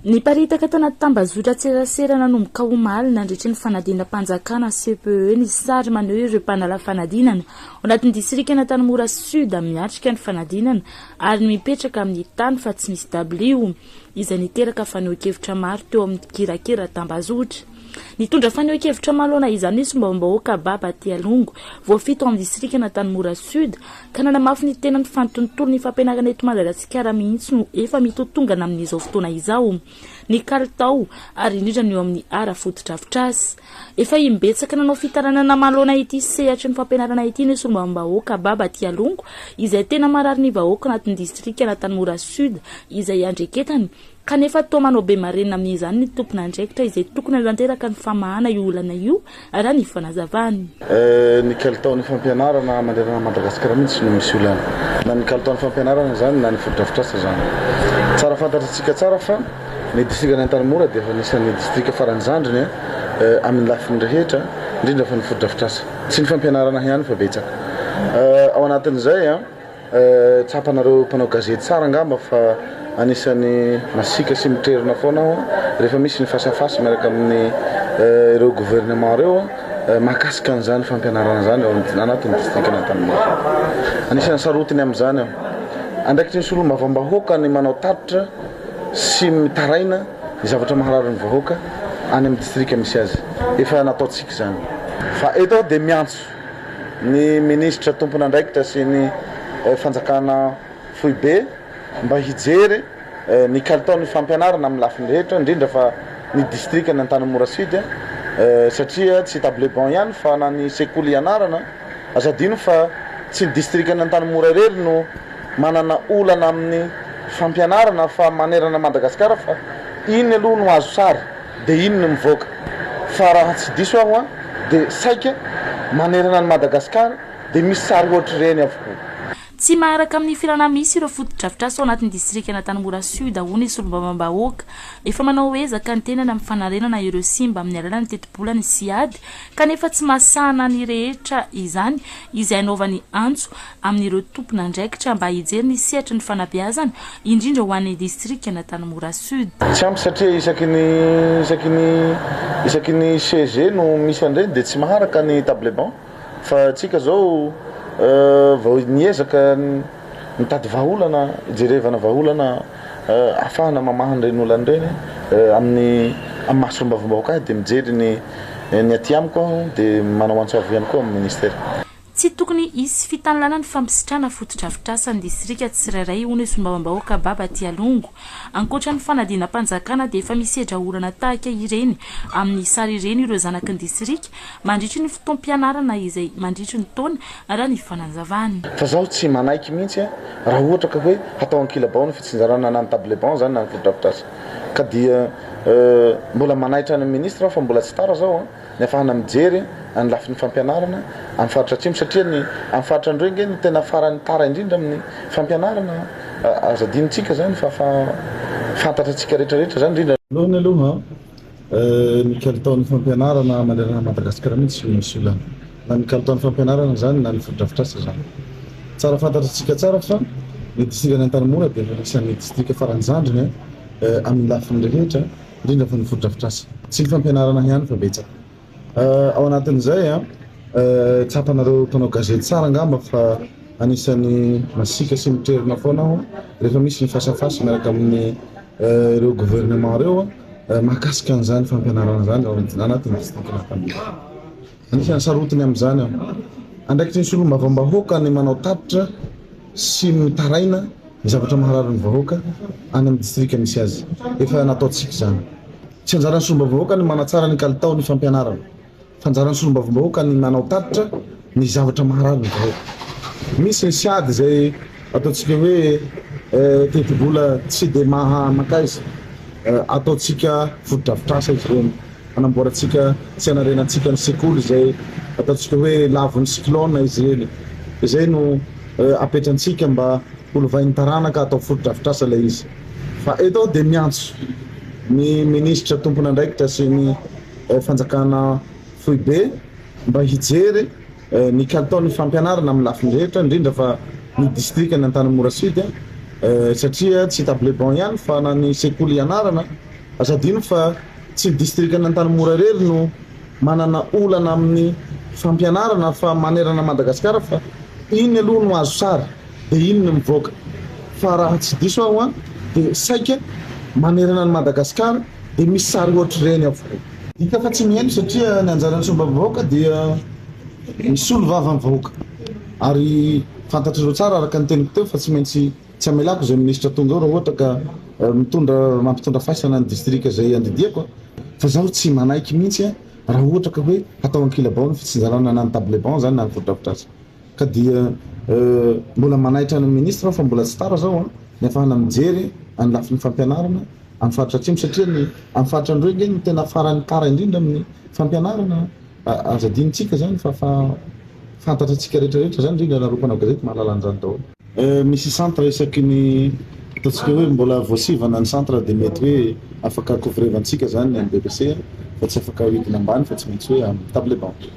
Niparitaka tao anaty tambazotran-tserasera nanomboka omaly nandritry ny fanadinam-panjakana, CPE, ny sary maneho ireo mpanala fanadinana ao anatin'ny distrikan'Antanimora Sud miatrika ny fanadinana ary ny mipetraka amin'ny tany fa tsy misy dabilio, izay niteraka fanehoan-kevitra maro teo amin'ny mpikirakira tambazotra. Nitondra fanehoan-kevitra manoloana izany ny solombavambahoaka Baba Tialongo, voafidy tao amin'ny distrikan'Antanimora Sud, Ka nanamafy ny tenany fa ny tontolon'ny fampianarana eto Madagasikara mihitsy no efa mitotongana amin'izao fotoana izao, ny kalitao ary indrindra ny eo amin'ny ara fotodrafitrasa. Efa imbetsaka nanao fitarainana namaloana ity sehatry ny fampianarana ity ny solombavambahoaka Baba Tialongo izay tena marary ny vahoaka anatin'ny distrikan'Antanimora Sud izay iandreketany Kanefa toa manao be marenina amin'izany ny tompon'andraikitra izay tokony hanatanteraka ny famahana io olana io, raha ny fanazavany. Ny kalitaon'ny fampianarana manerana an'i Madagasikara mihitsy no misy olana. Na ny kalitaon'ny fampianarana izany na ny fotodrafitrasa izany. Tsara fantatr'antsika tsara fa ny distrikan'i Antanimora dia efa anisan'ny distrika faran'ny zandriny amin'ny lafiny rehetra, indrindra fa ny fotodrafitrasa. Tsy ny fampianarana ihany fa betsaka ao anatin'izay. Tsapanareo mpanao gazety tsara angamba fa anisan'ny masiaka sy mitrerona foana aho rehefa misy ny face à face miaraka amin'ny ireo gouvernement ireo mahakasika an'izany fampianarana izany ao anatin'ny distrikan'Antanimora. Anisan'ny sarotiny amin'izany aho. Andraikitry ny solombavambahoaka ny manao tatitra sy mitaraina ny zavatra maharary ny vahoaka any amin'ny distrika misy azy. Efa nataontsika izany. Fa eto aho dia miantso ny minisitra tompon'andraikitra sy ny fanjakana foibe mba hijery ny kalitaon'ny fampianarana amin'ny lafiny rehetra indrindra fa ny distrikan'i Antanimora Sud satria tsy table banc ihany fa na ny sekoly ianarana aza adino fa tsy ny distrikan'i Antanimora irery no manana olana amin'ny fampianarana fa manerana Madagasikara fa iny aloha no azo sary Dia iny no mivoaka. Fa raha tsy diso aho an, dia saika manerana an'i Madagasikara dia misy sary ohatr'ireny avokoa. Tsy maharaka amin'ny filana misy ireo fotodrafitrasa ao anatin'ny distrikan'Antanimora Sud hoy ny solombavambahoaka. Efa manao ezaka ny tenany amin'ny fanarenana ireo simba amin'ny alalan'ny tetibola ny Siad kanefa tsy mahasahana ny rehetra izany izay anaovany antso amin'ireo tompon'andraikitra mba hijery ny sehatry ny fanabeazana, indrindra ho an'ny distrikan'Antanimora Sud. Tsy ampy satria isaky ny isaky ny isaky ny CEG no misy an'ireny dia tsy maharaka ny table banc fa antsika izao vao niezaka nitady vahaolana hijerevana vahaolana ahafahana mamaha an'ireny olana ireny amin'ny amin'ny maha solombavambahoaka ahy dia mijery ny ny aty amiko aho dia manao antso avo ihany koa amin'ny Ministera. Tsy tokony hisy fitanilana ny fampisitrana fotodrafitrasa ny distrika tsirairay, hoy ny solombavambahoaka Baba Tialongo. Ankoatra ny fanadinam-panjakana dia efa misedra olana tahaka ireny amin'ny sary ireny ireo zanaky ny distrika mandritry ny fotoam-pianarana izay mandritry ny taona, raha ny fanazavany. Fa zaho tsy manaiky mihitsy an, raha ohatra ka hoe hatao ankilabao ny fitsinjarana na ny table banc zany na ny fotodrafitrasa. Ka dia mbola manaitra ny ministra aho fa mbola tsy tara zao an. ny afahana mijery any lafiny fampianarana am faritra atsimo satria ny am faritra androy nge no tena farany tara indrindra aminy fampianarana aza adino tsika zany fa fa fantatra tsika retra retra zany indrindra voalohany aloha ny kalitao ny fampianarana manerana madagasikara mihintsy tsy misy olana na ny kalitao ny fampianarana zany na ny fotodrafitrasa zany tsara fantatra tsika tsara fa ny distrikan antanimora de efa anisany distrika farany zandriny aminy lafiny rehetra indrindra fa ny fotodrafitrasa sy ny fampianarana ihany fa betsaka ao anatin'izay a tsapanareo mpanao gazety tsara angamba fa anisan'ny masiaka sy miterina foana aho rehefa misy ny face à face miaraka amin'ny ireo gouvernement ireo mahakasika an'izany fampianarana izany ao anatin'ny district-n'ny Antanimora. Anisan'ny sarotiny amin'izany an! andraikitry ny solombavambahoaka ny manao tatitra sy ny mitaraina ny zavatra maharary ny vahoaka any amin'ny distrika misy azy. Efa nataontsika izany. Tsy anjaran'ny solombavambahoaka ny manatsara ny kalitao ny fampianarana fa anjaran'ny solombavambahoaka ny manao tatitra ny zavatra maharary ny vahoaka. Misy ny siady izay ataontsika hoe tetibola tsy dia maha mankaiza, ataontsika fotodrafitrasa izy ireny. Hanamboarantsika sy hanarenantsika ny sekoly izay ataontsika hoe lavon'ny cyclone izy ireny. Izay no apetrantsika mba holovain'ny taranaka atao fotodrafitrasa ilay izy. Fa eto aho dia miantso ny minisitra tompon'andraikitra sy ny fanjakana foibe mba hijery ny kalitaon'ny fampianarana amin'ny lafiny rehetra indrindra fa ny distrikan'i Antanimora Sud satria tsy table banc ihany fa na ny sekoly ianarana Aza adino fa tsy ny distrikan'Antanimora irery no manana olana amin'ny fampianarana fa manerana an'i Madagasikara fa iny aloha no azo sary dia iny no mivoaka fa raha tsy diso aho an dia saika manerana an'i Madagasikara dia misy sary ohatr'ireny avokoa. Hita fa tsy mihaino satria ny anjaran'ny sombam-bahoaka dia misolo vava ny vahoaka ary fantatrareo tsara araka ny teniko teo fa tsy maintsy Tsy hamelako izay ministra tonga ao raha ohatra ka mitondra mampitondra faisana ny distrika izay andidiako fa izaho tsy manaiky mihitsy raha ohatra ka hoe hatao ankilabao ny fitsinjarana na ny table banc izany na ny fotodrafitrasa ka dia mbola manaitra ny ministra aho fa mbola tsy tara izao ny hafahana mijery any lafiny fampianarana amin'ny faritra atsimo satria ny amin'ny faritra andreo ange no tena farany tara indrindra amin'ny fampianarana aza adinontsika izany fa fa fantatra antsika rehetra rehetra izany indrindra nareo mpanao gazety mahalala an'izany daholo Misy centre isaky ny ataontsika hoe mbola voasivana ny centre dia mety hoe afaka couvrevantsika izany ny an'ny BEPC fa tsy afaka ahodina ambany fa tsy maintsy hoe amin'ny table banc.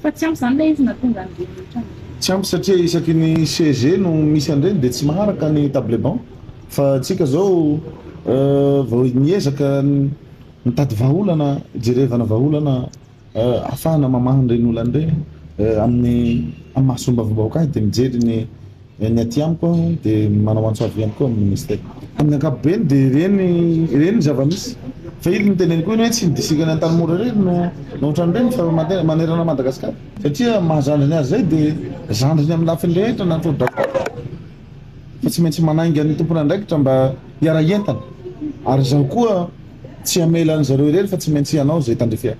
Fa tsy ampy izany ilay izy na tonga any rehetra any? Tsy ampy satria isaky ny CEG no misy an'ireny dia tsy maharaka ny table banc fa antsika izao vao miezaka mitady vahaolana, hijerevana vahaolana. ahafahana mamaha an'ireny olana ireny amin'ny mahasombavombahoaka ahy dia mijery ny ny aty amiko aho dia manao antso avy ihany koa amin'ny ministera. Amin'ny ankapobeny dia ireny ireny ny zava-misy fa iny niteneniko iny hoe tsy ny distrikan'i Antanimora irery no no ohatran'ireny fa manerana an'i Madagasikara satria ny maha zandriny azy izay dia zandriny amin'ny lafiny rehetra na ny tao-drafitr'asa aza fa tsy maintsy manainga ny tompon'andraikitra mba hiara-hientana ary izaho koa tsy hamela an'izareo irery fa tsy maintsy hanao izay tandrify ahy.